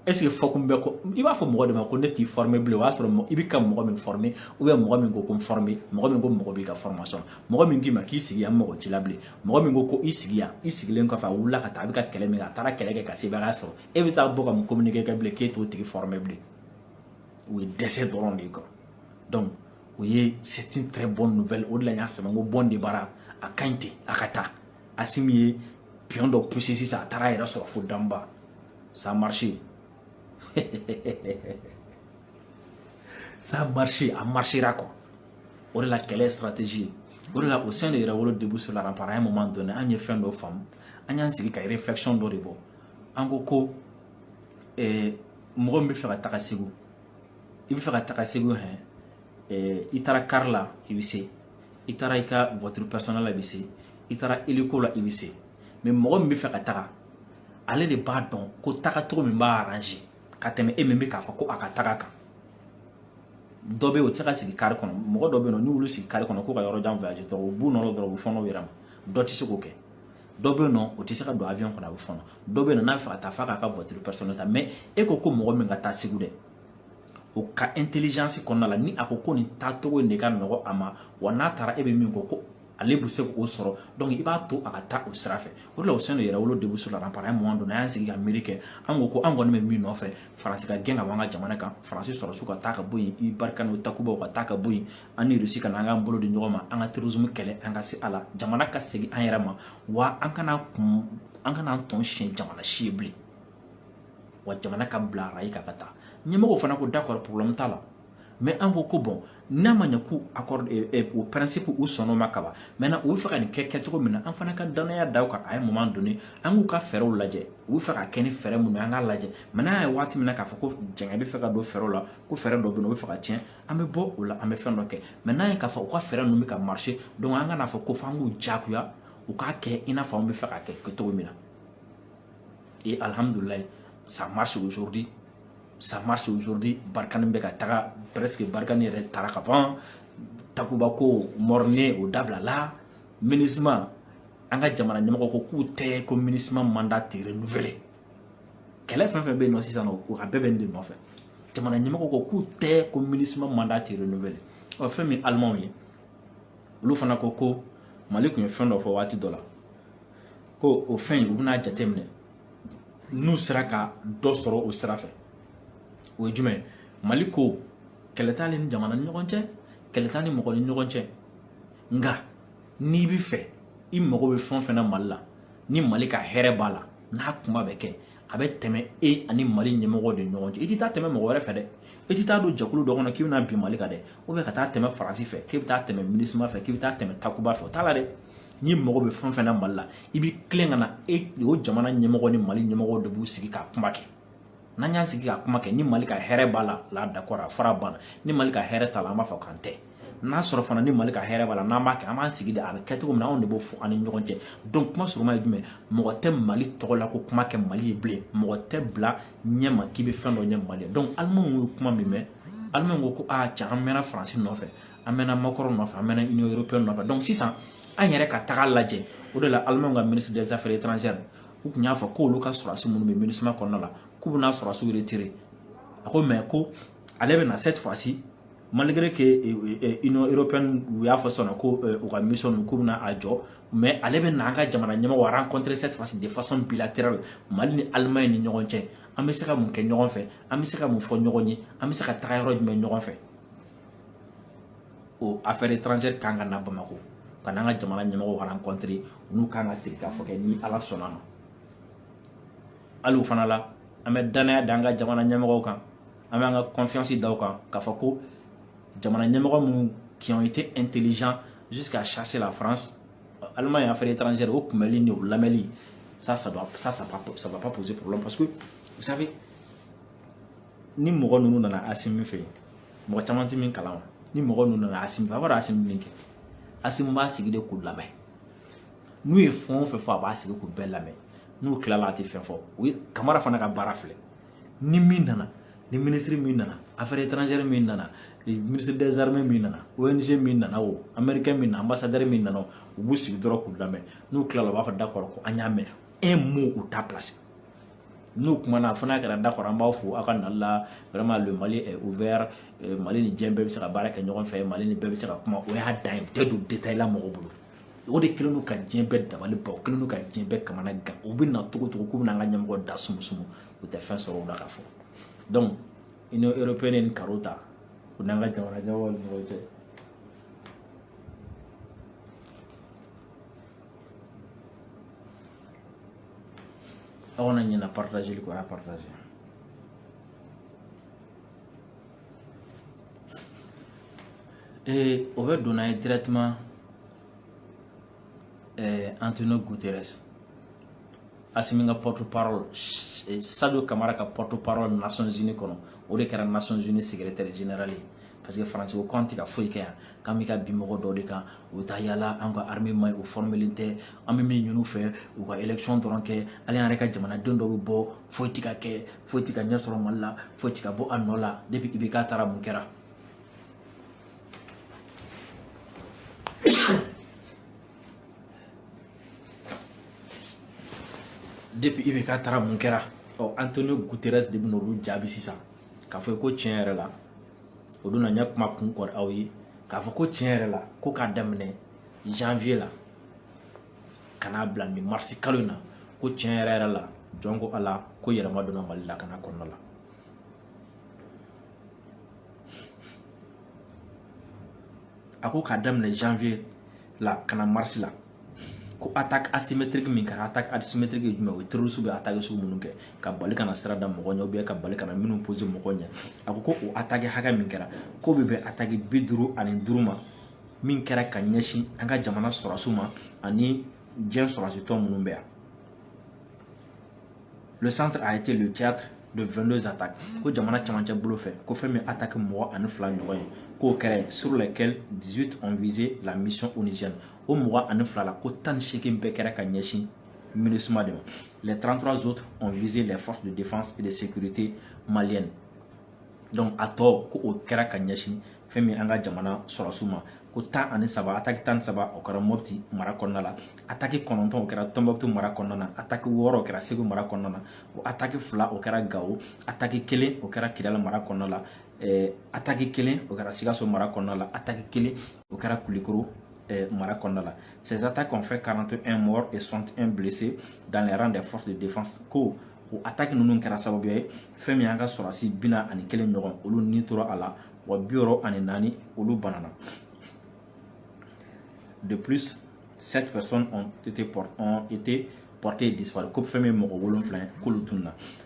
ɛseke fɔkun bɛ ko i b'a fɔ mɔgɔ de ma ko ne t'i fɔrme bilen o y'a sɔrɔ i bɛ ka mɔgɔ min fɔrme ubiyɛn mɔgɔ min ko ko n fɔrme mɔgɔ min ko mɔgɔ b'i ka fɔrmasɔn mɔgɔ min k'i ma k'i sigi yan mɔgɔ t'i la bilen mɔgɔ min ko ko i sigi yan i sigilen kɔfɛ a wulila ka taa a bɛ ka kɛlɛ min kɛ a taara kɛlɛ kɛ ka sebaaya sɔrɔ e bɛ taa bɔ ka mun communiqué kɛ bilen k'e t'o tigi fɔrme bilen o ye dɛsɛ dɔrɔn de ye quoi donc o ye c'est une très bonne nouvelle o de la n y'a sɛbɛn n ko bon débarras a ka ɲi ten a ka taa asimi ye pion dɔ pousser sisan a taara a yɛrɛ sɔrɔ fo danba ça marche ça marche a marchera quoi o de la kɛlɛ stratégie ye o de la au sein de yɛrɛwolo debout sur la rempart à un moment donné an ye fɛn dɔ faamu an y'an sigi ka réflexion dɔ de bɔ an ko ko eh, mɔgɔ min bɛ fɛ ka taga segu i bɛ fɛ ka taga segu hɛn eh, i taara kari la i bɛ se i taara i ka voiture personnelle la i bɛ se i taara hélico la i bɛ se mais mɔgɔ min bɛ fɛ ka taga ale de b'a dɔn ko tagacogo min b'a arranger ka tɛmɛ e min bɛ k'a fɔ ko a ka taga kan dɔ bɛ yen o tɛ se ka sigi kari kɔnɔ mɔgɔ dɔ bɛ yen nɔ n'u y'olu sigi kari kɔnɔ k'u ka yɔrɔ jan voyager dɔrɔn u b'u nɔrɔ dɔrɔn u bɛ fɔnɔ u yɛrɛ ma dɔ tɛ se k'o kɛ dɔ bɛ yen nɔ o tɛ se ka don avion kɔnɔ a bɛ fɔnɔ dɔ bɛ yen nɔ n'a bɛ fɛ ka taa f'a k'a ka voiture personnelle ta mais e ko ko mɔgɔ min ka taa segu dɛ o ka intelligence kɔnɔna la ni a ko ko nin taacogo in de ka nɔgɔ a ma wa n'a taara e bɛ min kɔ ko ale bɛ se k'o sɔrɔ donc i b'a to a ka taa o sira fɛ o de la au sein yɛrɛwolo debout sur les remparts à un moment donné an y'an sigi ka miiri kɛ an ko ko an kɔni bɛ min nɔfɛ faransi ka gɛn ka bɔ an ka jamana kan faransi sɔrɔsiw ka taa ka bɔ yen i barkhane o takubaw ka taa ka bɔ yen an ni rusi ka na an k'an bolo di ɲɔgɔn ma an ka terrorisme kɛlɛ an ka se a la jamana ka segin an yɛrɛ ma wa an kana kun an kana an tɔn siɲɛ jamana si ye bilen wa jamana ka bila arayi kan ka taa ɲɛmɔgɔw fana ko d'accord problème t'a la mais an ko ko bon n'a ma ɲɛ k'u accord eh, eh, o principe u sɔnn'o ma kaban maintenant u bɛ fɛ ka nin kɛ kɛcogo min na an fana ka dannaya da u kan à un moment donné an k'u ka fɛɛrɛw lajɛ u bɛ fɛ ka kɛ ni fɛɛrɛ minnu ye an k'a lajɛ maintenant an ye waati min na k'a fɔ ko jɛngɛ bɛ fɛ ka don fɛɛrɛw la ko fɛɛrɛ dɔ bɛ yen o bɛ fɛ ka tiɲɛ an bɛ bɔ o la an bɛ fɛn dɔ kɛ maintenant an ye k'a fɔ u ka fɛɛrɛ ninnu bɛ ka marcher donc an kana fɔ ko f'an k'u diyagoya u k'a kɛ i n'a fɔ an bɛ fɛ k'a kɛ cogo min na Et alhamdulillah, ça marche aujourd'hui. Ça marche aujourd'hui. Barkhane bɛ ka taga presque Barkhane yɛrɛ taara ka ban. Takuba ko morne o dabilala. Minusma an ka jamana ɲɛmɔgɔ ko k'u tɛ ko Minusma mandat tɛ renouveler. Kɛlɛ fɛn fɛn bɛ yen nɔ sisan nɔ o a bɛɛ bɛ nin de nɔfɛ. Jamana ɲɛmɔgɔ ko k'u tɛ ko Minusma mandat tɛ renouveler. Ɔ fɛn min Allemand ye olu fana ko ko Mali tun ye fɛn dɔ fɔ waati dɔ la. ko o fɛn in u bɛna jateminɛ n'u sera ka dɔ sɔrɔ o sira fɛ o ye jumɛn ye mali ko kɛlɛ t'ale ni jamana ni ɲɔgɔn cɛ kɛlɛ t'a ni mɔgɔ ni ɲɔgɔn cɛ nka n'i bɛ fɛ i mago bɛ fɛn o fɛn na mali la ni mali ka hɛrɛ b'a la n'a kuma bɛ kɛ a bɛ tɛmɛ e ani mali ɲɛmɔgɔw de ɲɔgɔn cɛ i tɛ taa tɛmɛ mɔgɔ wɛrɛ fɛ dɛ i tɛ taa don jɛkulu dɔ kɔnɔ k'i bɛna bin mali kan dɛ ka taa tɛmɛ faransi fɛ k'i bɛ taa tɛmɛ minisima fɛ k'i bɛ taa tɛmɛ takuba fɛ o t'a la dɛ n'i mago bɛ fɛn fɛn na mali la i bɛ tilen ka na e o jamana ɲɛmɔgɔ ni mali ɲɛmɔgɔ de b'u sigi ka kuma kɛ n'an y'an sigi ka kuma kɛ ni mali ka hɛrɛ b'a la là d'accord affaire banna ni mali ka hɛrɛ t'a la an b'a fɔ k'an tɛ n'a sɔrɔ fana ni mali ka hɛrɛ b'a la n'an b'a kɛ an b'an sigi de a bɛ kɛ cogo min na anw de b'o fɔ an ni ɲɔgɔn cɛ donc kuma surunma ye jumɛn mɔgɔ tɛ mali tɔgɔ la ko kuma kɛ mali ye bilen mɔgɔ tɛ bila ɲɛma k'i bɛ fɛn dɔ ɲɛ mali ye donc alimanw ye kuma min mɛn alimanw ko ko aa cɛ an mɛnna faransi nɔfɛ an mɛnna macron nɔfɛ an mɛnna union européenne nɔfɛ donc sisan an yɛrɛ ka taga lajɛ o de la alimanw ka ministre des affaires étrangères u tun y'a fɔ k'olu ka sɔrɔdasi minnu bɛ minusma kɔnɔna la k'u bɛna sɔrɔdasiw retirer a ko mais ko ale bɛna cette fois ci malgré que eh, eh, eh, union européenne u y'a fɔ sɔnna ko u ka mission ninnu k'u bɛna a jɔ mais ale bɛna an ka jamana ɲɛmɔgɔ rencontrer cette fois ci de façon bilatérale mali ni allemagne ni ɲɔgɔn cɛ an bɛ se ka mun kɛ ɲɔgɔn fɛ an bɛ se ka mun fɔ ɲɔgɔn ye an bɛ se ka taga yɔrɔ jumɛn ɲɔgɔn fɛ o affaire étrangère kan ka na Bamakɔ ka n'an ka jamana ɲɛmɔgɔw rencontrer n'u kan ka sigikafɔ kɛ ni Ala sɔnna ma hali o fana la an bɛ danaya da an ka jamana ɲɛmɔgɔw kan an b'an ka confiance da u kan k'a fɔ ko jamana ɲɛmɔgɔ minnu qui ont été intelligents jusqu'à chasser la France Allemagne et affaires étrangères o kunbɛli ni o lamɛnli ça ça doit ça ça pas ça va pas poser problème parce que vous savez ni mɔgɔ ninnu nana Asimi fɛ yen mɔgɔ caman tɛ min kalama ni mɔgɔ ninnu nana asimi fɛ a b'a dɔn asimi min kɛ asimi b'a sigi de k'u lamɛn n'u ye fɛn o fɛn fɔ a b'a sigi k'u bɛɛ lamɛn n'u tilala a tɛ fɛn fɔ o ye kamara fana ka baara filɛ ni min nana ni minisiri min nana affaire étrangère min nana ministre des armées min nana ONG min nana o américain min nana ambassadeur min nana u b'u sigi dɔrɔn k'u lamɛn n'u tilala u b'a fɔ d'accord ko an y'a mɛn un mot u t'a placer n'u kumana fo n'a kɛra d'accord an b'aw fo aw ka nali la vraiment le mali est ouvert euh, mali ni diɲɛ bɛɛ bɛ se ka baara kɛ ɲɔgɔn fɛ mali ni bɛɛ bɛ se ka kuma o y'a dan ye u tɛ don détail la mɔgɔ bolo o de kɛlen don ka diɲɛ bɛɛ dabali ban o kɛlen don ka diɲɛ bɛɛ kamanagan u bɛ na cogo cogo k'u bɛna an ka ɲɛmɔgɔ da sumusumu u tɛ fɛn sɔrɔ o la ka fɔ donc union européenne ye nin karo ta u n'an ka jamana ɲɛmɔgɔw ni ɲɔgɔn cɛ aw kana ɲina partageli kɔ a y'a partager ee o bɛ donna ye directement eh, Antonio Guterres Assimi ka porte parole eh, Sadio Camara ka porte parole Nations Unies kɔnɔ o de kɛra Nations Unies secrétaire général ye parce que faransi ko k'an tɛ ka foyi kɛ yan k'an bɛ ka bin mɔgɔ dɔ de kan u bɛ taa yaala an ka armée man ɲi u fɔrmelen tɛ an bɛ min ɲini u fɛ u ka élection dɔrɔn kɛ hali an yɛrɛ ka jamanaden dɔ bɛ bɔ foyi tɛ ka kɛ foyi tɛ ka ɲɛ sɔrɔ mali la foyi tɛ ka bɔ a nɔ la depuis IBK taara mun kɛra depuis IBK taara mun kɛra ɔ antonio guterres de bɛn'olu jaabi sisan k'a fɔ ko tiɲɛ yɛrɛ la o don na n ye kuma kun kɔrɔ aw ye k'a fɔ ko tiɲɛ yɛrɛ la ko k'a daminɛ janvier la ka n'a bila nin marisi kalo in na ko tiɲɛ yɛrɛ yɛrɛ la jɔn ko ala ko yɛlɛma donna mali lakana kɔnɔna la a ko k'a daminɛ janvier la ka na marisi la ko attaque asymétrique min kɛra attaque asymétrique ye jumɛn o ye terroriste bɛ attaque sugu minnu kɛ ka bali ka na sira da mɔgɔ ɲɛ ou bien ka bali ka na mine poser mɔgɔ ɲɛ a ko ko o attaque hakɛ min kɛra ko bɛ bɛn attaque bi duuru ani duuru ma min kɛra ka ɲɛsin an ka jamana sɔrɔsiw ma ani diɲɛ sɔrɔsi tɔn minnu bɛ yan le centre a été le théâtre de 22 attaques ko jamana camancɛ bolo fɛ ko fɛn min attaque mugan ani fila ɲɔgɔn ye k'o kɛra sur lesquelles 18 ont visé la mission onusienne o mugan ani fila la ko tan ni seegin bɛɛ kɛra ka ɲɛsin MINUSMA de ma les 33 autres ont visé les forces de défense et de sécurité maliennes donc a tɔ ko o kɛra ka ɲɛsin fɛn min an ka jamana sɔrɔsiw ma ko tan ani saba ataki tan ni saba o kɛra mɔpti mara kɔnɔna la ataki kɔnɔntɔn o kɛra tɔnbukutu mara kɔnɔna na ataki wɔɔrɔ o kɛra segu mara kɔnɔna na ko ataki fila o kɛra gawo ataki kelen o kɛra kidala mara kɔnɔna la eh, ataki kelen o kɛra sikaso mara kɔnɔna la ataki kelen o kɛra kulikoro eh, mara kɔnɔna la ces attaques ont fait 41 morts et 61 blessés dans les rangs des forces de défense ko o attaque ninnu kɛra sababu ye fɛn min y'an ka sɔrɔsi bi na ani kelen ɲɔgɔn olu ni tora a la wa bi wɔɔrɔ ani naani olu banana de plus sept personnes ont été, ont été portées disparues ko fɛn min ye mɔgɔ wolonfila ye k'olu tununa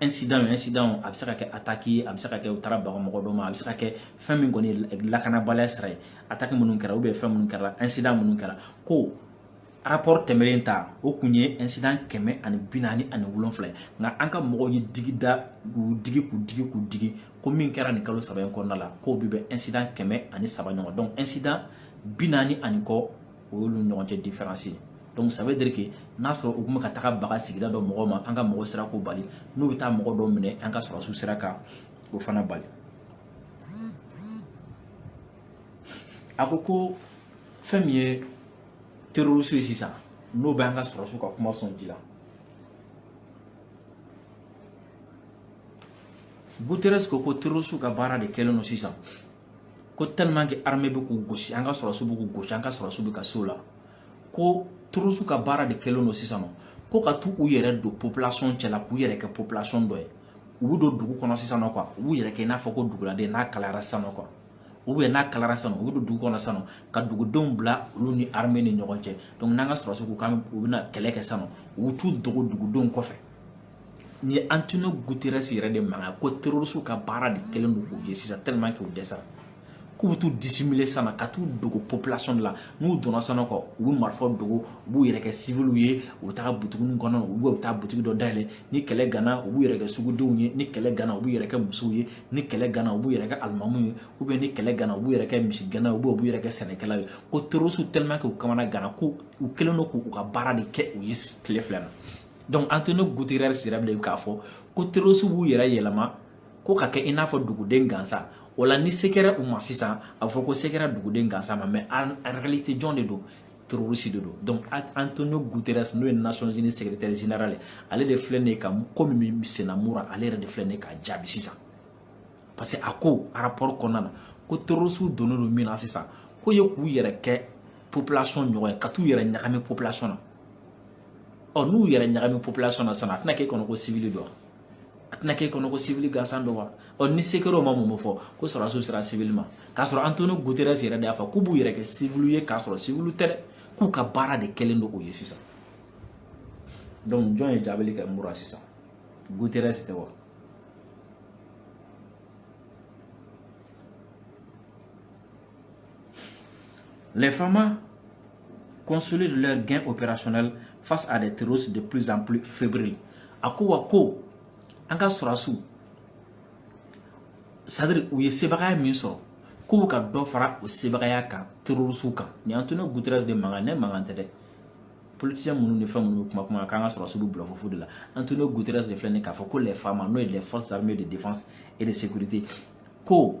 incident o incident o a bɛ se ka kɛ attaque ye a bɛ se ka kɛ u taara baga mɔgɔ dɔ ma a bɛ se ka kɛ fɛn min kɔni ye lakanabaliya sira ye attaque minnu kɛra ou bien fɛn minnu kɛra incident minnu kɛra ko rapport tɛmɛlen ta o kun ye incident kɛmɛ ani bi naani ani wolonfila ye nka an ka mɔgɔw ye digi da k'u digi k'u digi k'u digi ko min kɛra nin kalo saba in kɔnɔna la k'o bi bɛn incident kɛmɛ ani saba ɲɔgɔn donc incident bi naani ani kɔ o y'olu ɲɔgɔn cɛ diferansi ye donc ça veut dire que n'a sɔrɔ u tun bɛ ka taga baga sigida dɔ mɔgɔ ma an ka mɔgɔ sera k'o bali n'u bɛ taa mɔgɔ dɔ minɛ an ka sɔrɔsiw sera ka o fana bali a ko ko fɛn min ye terorisiw ye sisan n'o bɛ an ka sɔrɔsiw ka kuma sɔn ji la guterres ko ko terorisiw ka baara de kɛlen don sisan ko tellement que armée bɛ k'u gosi an ka sɔrɔsiw bɛ k'u gosi an ka sɔrɔsiw bɛ ka se u la ko terorisi ka baara de kɛlen don sisan nɔ ko ka t'u yɛrɛ don population cɛla k'u yɛrɛ kɛ population dɔ ye u bɛ don dugu kɔnɔ sisan nɔ quoi u b'u yɛrɛ kɛ i n'a fɔ ko duguladen n'a kalayara sisan nɔ quoi ou bien n'a kalayara sisan u bɛ don dugu kɔnɔ sisan nɔ ka dugudenw bila olu ni armée ni ɲɔgɔn cɛ donc n'an ka sɔrɔsiw ko k'anw bɛna kɛlɛ kɛ sisan nɔ u t'u dogo dugudenw kɔfɛ ni ye Antonio Guterres yɛrɛ de mankan ko terrorisiw ka baara de kɛlen don k'o ye sisan tellement que u dɛsɛra k'u bɛ t'u dissimuler sisan na ka t'u dogo population de la n'u donna sisan quoi u bɛ marifaw dogo u b'u yɛrɛ kɛ civiliw ye u bɛ taga butiginiw kɔnɔ u bɛ taa butigi dɔ dayɛlɛ ni kɛlɛ ganna u b'u yɛrɛ kɛ sugudenw ye ni kɛlɛ ganna u b'u yɛrɛ kɛ musow ye ni kɛlɛ ganna u b'u yɛrɛ kɛ alimamu ye ou bien ni kɛlɛ ganna u b'u yɛrɛ kɛ misigɛnna ye ou bien u b'u yɛrɛ kɛ sɛnɛkɛla ye ko terrorisiw tellement que u kamana ganna ko u kɛlen don k'u ka baara de kɛ o ye tile fila na donc Antonio Guterres yɛrɛ bɛ k'a fɔ ko terroriste b'u yɛrɛ yɛlɛma ko ka kɛ i n'a fɔ duguden gansan o la ni se kɛra u ma sisan a bɛ fɔ ko se kɛra duguden gansan ma mais en réalité jɔn de don terroriste de don donc Antonio Guterres n'o ye Nations Unies secrétaire général ye ale de filɛ nin ye ka ko min bɛ senna Mura ale yɛrɛ de filɛ nin ye k'a jaabi sisan parce que a ko rapport kɔnɔna na ko terroriste donnen don min na sisan k'o ye k'u yɛrɛ kɛ population ɲɔgɔn ye ka t'u yɛrɛ ɲagami population na ɔ n'u yɛrɛ ɲagami population na sisan a tɛna k'e kɔnɔ ko civili don a tɛna k'e kɔnɔ ko civili gansan don wa ɔ ni se kɛra u ma mun bɛ fɔ ko sɔrɔdasiw sera civili ma k'a sɔrɔ Antonio Guterres yɛrɛ de y'a fɔ k'u b'u yɛrɛ kɛ civiliw ye k'a sɔrɔ civiliw tɛ dɛ k'u ka baara de kɛlen don o ye sisan donc jɔn ye jaabili kɛ Mura sisan Guterres tɛ wa Les FAMA consolident leur gain opérationnel face à des terroristes de plus en plus fébriles. A ko wa ko an ka sɔrɔdasiw c'est-à-dire u ye sebagaya min sɔrɔ k'u bɛ ka dɔ fara o sebagaya kan terorisiw kan nin antonio guterres de mankan ne mankan tɛ dɛ politisiyɛn minnu ni fɛn minnu bɛ kuma kuma k'an ka sɔrɔdasiw bɛ bulɔfu fɔ de la antonio guterres de filɛ nin k'a fɔ ko les fama n'o ye les forces armées de défense et de sécurité ko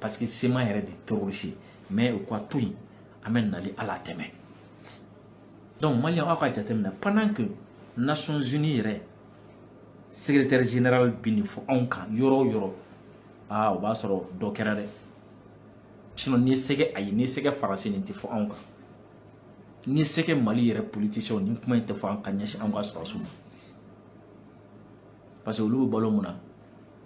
parce que CMA yɛrɛ de terrorisi mais o ka to yen an bɛ nali ala tɛmɛ donc maliyɛn aw k'a jateminɛ pendant que nations unies yɛrɛ secrétaire général bɛ nin fɔ anw kan yɔrɔ o yɔrɔ aa o b'a sɔrɔ dɔ kɛra dɛ sinon ni c'est que ayi ni c'est que faransi nin tɛ fɔ anw kan ni c'est que mali yɛrɛ politiciens nin kuma in tɛ fɔ an ka ɲɛsin anw ka sɔrɔdasiw ma parce que olu bɛ balo mun na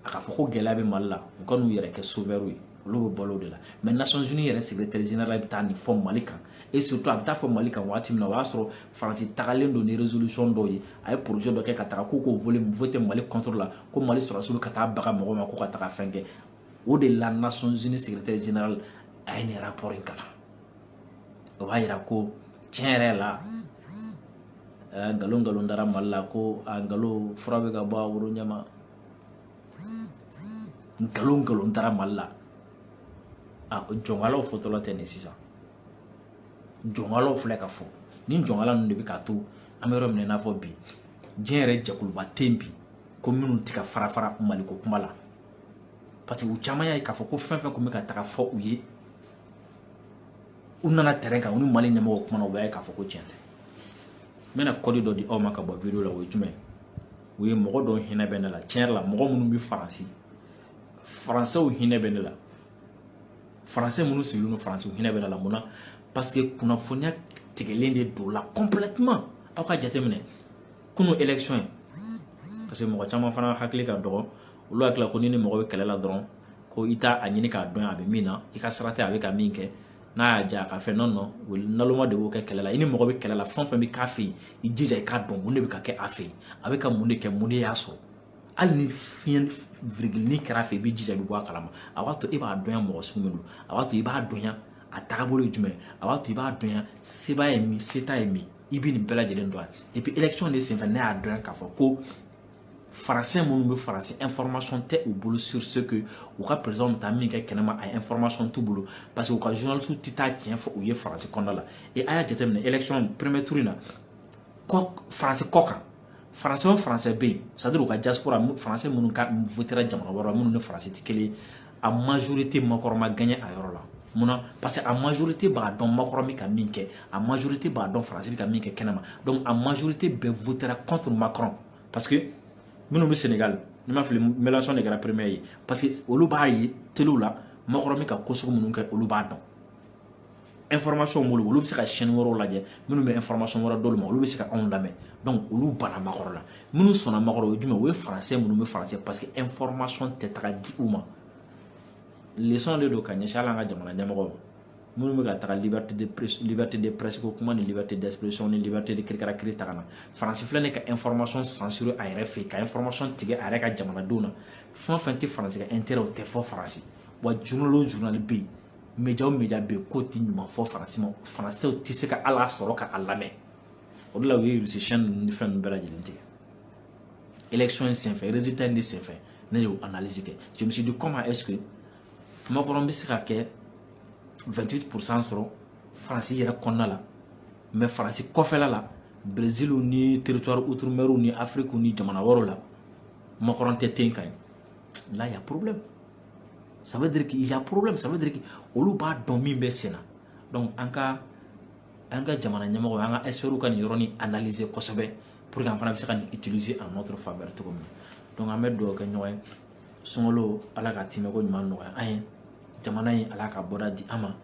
a k'a fɔ ko gɛlɛya bɛ mali la u ka n'u yɛrɛ kɛ sauveurw ye olu bɛ balo o de la mais nations unies yɛrɛ secrétaire général bɛ taa nin fɔ mali kan et surtout a bɛ t'a fɔ mali kan waati min na o y'a sɔrɔ faransi tagalen don ni résolution dɔw ye a ye projet dɔ kɛ ka taga k'u k'o voler voter mali contre la ko mali sɔrɔdasiw bɛ ka taa baga mɔgɔ ma ko ka taga fɛn kɛ o de la nations unies secrétaire général a ye nin rapport in kalan o b'a yira ko tiɲɛ yɛrɛ la nkalon nkalon dara mali la ko a nkalon fura bɛ ka bɔ a woro ɲɛma nkalon nkalon taara mali la a jɔnkalaw fɔtɔla tɛ nin sisan jɔnkalaw filɛ ka fɔ ni jɔnkala ninnu de bɛ k'a to an bɛ yɔrɔ min na i n'a fɔ bi diɲɛ yɛrɛ jɛkuluba tɛ yen bi ko minnu tɛ ka fara fara maliko kuma la parce que u caman y'a ye k'a fɔ ko fɛn fɛn tun bɛ ka taga fɔ u ye u nana terrain kan u ni mali ɲɛmɔgɔw kumana u b'a ye k'a fɔ ko tiɲɛ tɛ n bɛna kɔdi dɔ di aw ma ka bɔ video la o ye jumɛn ye o ye mɔgɔ dɔw hinɛ bɛ ne la tiɲɛ yɛrɛ la mɔgɔ minnu bɛ faransi faransɛw hinɛ bɛ ne la faransɛ minnu sigilen don faransi u hinɛ bɛ ne la mun na parce que kunnafoniya tigɛlen de don u la complètement aw k'a jateminɛ kunu élection ye parce que mɔgɔ caman fana hakili ka dɔgɔ olu hakili la ko n'i ni mɔgɔ bɛ kɛlɛ la dɔrɔn ko i t'a ɲini k'a dɔn a bɛ min na i ka sira tɛ a bɛ ka min kɛ n'a y'a diya a ka fɛn non naloma de b'o kɛ kɛlɛ la i ni mɔgɔ bɛ kɛlɛ la fɛn fɛn bɛ k'a fɛ yen i jija i k'a dɔn mun de bɛ ka kɛ a fɛ yen a bɛ ka mun de kɛ mun de y'a sɔrɔ hali ni fiɲɛ virigilini kɛra a fɛ i bɛ jija i bɛ bɔ a kalama a b'a to e b'a dɔnya mɔgɔ sugu min don a b'a to i b'a dɔnya a taabolo ye jumɛn a b'a to i b'a dɔnya se b'a ye min se t'a ye min i bɛ nin bɛɛ lajɛlen dɔn et puis élection de senfɛ ne y'a dɔn k'a fɔ ko Français minnu bɛ faransi information tɛ u bolo sur ce que u ka président bɛ taa min kɛ kɛnɛma a information t'u bolo parce que u ka journalistes tɛ taa tiɲɛ fɔ u ye faransi kɔnɔna la et a y'a jateminɛ élection premier tour in na kɔ faransi kɔkan français o français bɛ yen c'est à dire u ka diaspora français minnu ka votera jamana wɛrɛ minnu ni faransi tɛ kelen a majorité makɔrɔ ma gagné a yɔrɔ la mun na parce que a majorité b'a dɔn makɔrɔ bɛ ka min kɛ a majorité b'a dɔn faransi bɛ ka min kɛ kɛnɛma donc a majorité bɛɛ votera contre macron parce que minnu bɛ sénégal ni n ma fili mélenchon de kɛra premier ye parce que olu b'a ye telew la makɔrɔ bɛ ka ko sugu minnu kɛ olu b'a dɔn information b'olu bolo olu bɛ se ka chaîne wɛrɛw lajɛ minnu bɛ information wɛrɛ d'olu ma olu bɛ se ka anw lamɛn donc olu banna makɔrɔ la minnu sɔnna makɔrɔ o ye jumɛn o ye français minnu bɛ faransi parce que information tɛ taga di u ma leçon de don ka ɲɛsin hali an ka jamana ɲɛmɔgɔw ma minnu bɛ ka taga liberté de presse liberté de presse ko kuma ni liberté d'expression ni liberté de kirikara kiri ta ka na faransi filɛ nin ka information censuré a yɛrɛ fɛ yen ka information tigɛ a yɛrɛ ka jamanadenw na fɛn o fɛn tɛ faransi ka intérêt o tɛ fɔ faransi wa journal o journal bɛ yen média o média bɛ k'o tɛ ɲuman fɔ faransi ma faransɛw tɛ se ka a lasɔrɔ ka a lamɛn o de la u ye russie chaîne ninnu ni fɛn ninnu bɛɛ lajɛlen tigɛ élection in senfɛ résultat in de senfɛ ne y'o analyse kɛ je me suis dit comment est-ce que makɔrɔn bɛ se ka kɛ 28 pourcent sɔrɔ faransi yɛrɛ kɔnɔna la mais faransi kɔfɛla la brésil ni territoire outre-mer ni afrique ni jamana wɛrɛw la makɔrɔn tɛ ten gagné là il y a problème ça veut dire qu'il y a problème ça veut dire que olu b'a dɔn min bɛ sen na donc an ka an ka jamana ɲɛmɔgɔ an ka experts ka nin yɔrɔnin analyser kosɛbɛ pour que an fana bɛ se ka nin utiliser en notre faveur cogo min na donc an bɛ dugawu kɛ ɲɔgɔn ye sunkalo ala ka timɛko ɲuman nɔgɔya an ye jamana in ala ka bɔda di an ma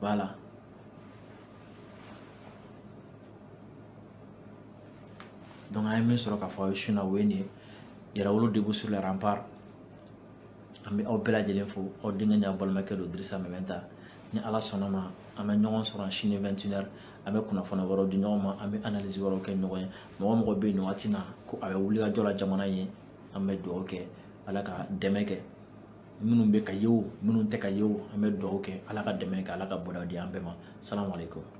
voilà donc an ye min sɔrɔ k'a fɔ aw ye su in na o ye nin ye yɛrɛwolo debout sur les remparts an bɛ aw bɛɛ lajɛlen fo aw denkɛ ni aw balimakɛ don dirisa mɛmɛnta ni ala sɔnna a ma an bɛ ɲɔgɔn sɔrɔ sini vingt et une heures an bɛ kunnafoni wɛrɛw di ɲɔgɔn ma an bɛ analyse wɛrɛw kɛ ɲɔgɔn ye mɔgɔ o mɔgɔ bɛ yen nin waati na ko a bɛ wulikajɔ la jamana in ye an bɛ dugawu kɛ ala ka dɛmɛ kɛ minnu bɛ ka ye o minnu tɛ ka ye o an bɛ dugawu kɛ ala ka dɛmɛ kɛ ala ka bɔda di an bɛɛ ma salamalekum